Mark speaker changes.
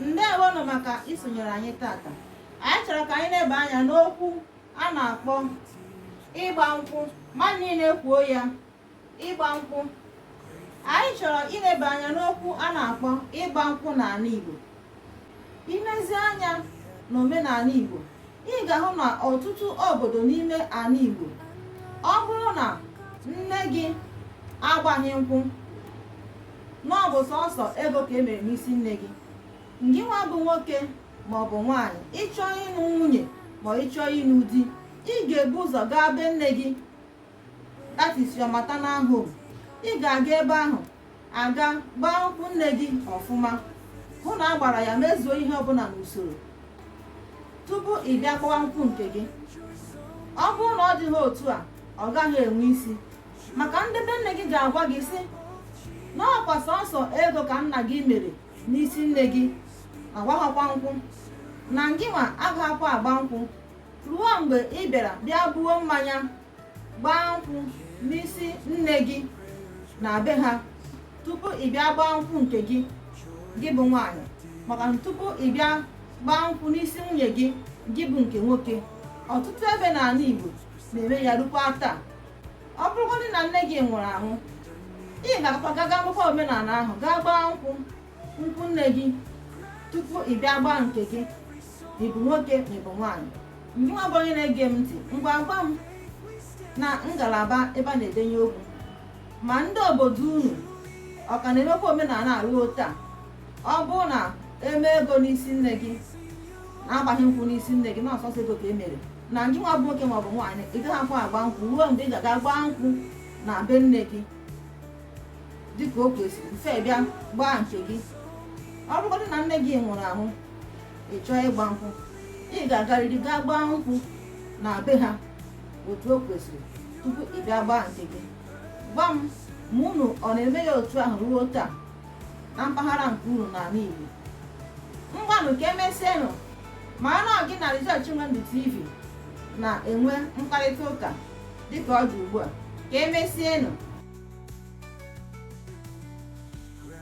Speaker 1: ndewonụ maka isonyere anyị tata anyị chọrọ ka anyị leba anya n'okwu a na-akpọ ịgba nkwụ mmadụ niile kwuo ya ịgba nkwụ anyị chọrọ ileba anya n'okwu a na-akpọ ịgba nkwụ n'ala Igbo ilezi anya n'omenala Igbo ị ga-ahụ na ọtụtụ obodo n'ime ala Igbo ọ bụrụ na nne gị agbaghị nkwụ na ọ bụ sọsọ ego ka e mere n'isi nne gị ngịnwa bụ nwoke ma ọ bụ nwaanyị ị chọọ ịnụ nwunye ma ị chọọ ịnụ di ị ga-ebu ụzọ gaa be nne gị that is your maternal home ị ga-aga ebe ahụ aga gbaa nkwụ nne gị ọfụma hụ na a gbara ya mezuo ihe ọbụla n'usoro tupu ị bịa gbawa nkwụ nke gị ọ bụrụ na ọ dịghị otu a ọ gaghị enwe isi maka ndị be nne gị ga-agwa gị sị na ọkwa sọsọ ego ka nna gị mere n'isi nne gị agbaghịkwa nkwụ na ngịnwa agaghịkwa agba nkwụ ruo mgbe ị bịara bịa buo mmanya gbaa nkwụ n'isi nne gị na be ha tupu ị bịa gbaa nkwụ nke gị gị bụ nwaanyị maka na tupu ị bịa gbaa nkwụ n'isi nwunye gị gị bụ nke nwoke ọtụtụ ebe n'ala Igbo na-eme ya rukwa taa ọ bụrụgodị na nne gị nwụrụ anwụ ị ga-akwa gaga akwụkwa omenala ahụ gaa gbaa nkwụ nkwụ nne gị tupu ị bịa gbaa nke gị ma ị bụ nwoke ma ị bụ nwaanyị ngịnwa bụ onye na-ege m ntị ngwa gwa m na ngalaba ebe a na-edenye okwu ma ndị obodo unu ọ ka na-emekwa omenala ruo taa ọ bụrụ na e mee ego n'isi nne gị na agbaghị nkwụ n'isi nne gị na ọ sọsọ ego ka e mere na ngịnwa bụ nwoke maọbụ nwaanyị ị gaghịkwa agba nkwụ ruo mgbe ị ga-aga gbaa nkwụ na be nne gị dịka o kwesịrị before ị bịa gbaa nke gị ọ bụrụgodị na nne gị nwụrụ anwụ ị chọọ ịgba nkwụ ị ga-agarịrị gaa gbaa nkwụ na be ha otu o kwesịrị tupu ị bịa gbaa nke gị gwa m ma unu ọ na-eme ya otu ahụ ruo taa na mpaghara nke unu n'ala Igbo ngwanụ ka emesienụ ma na ọ gị na Rejoice Chinwendu TV na-enwe mkparịta ụka dịka ọ dị ugbu a ka emesienụ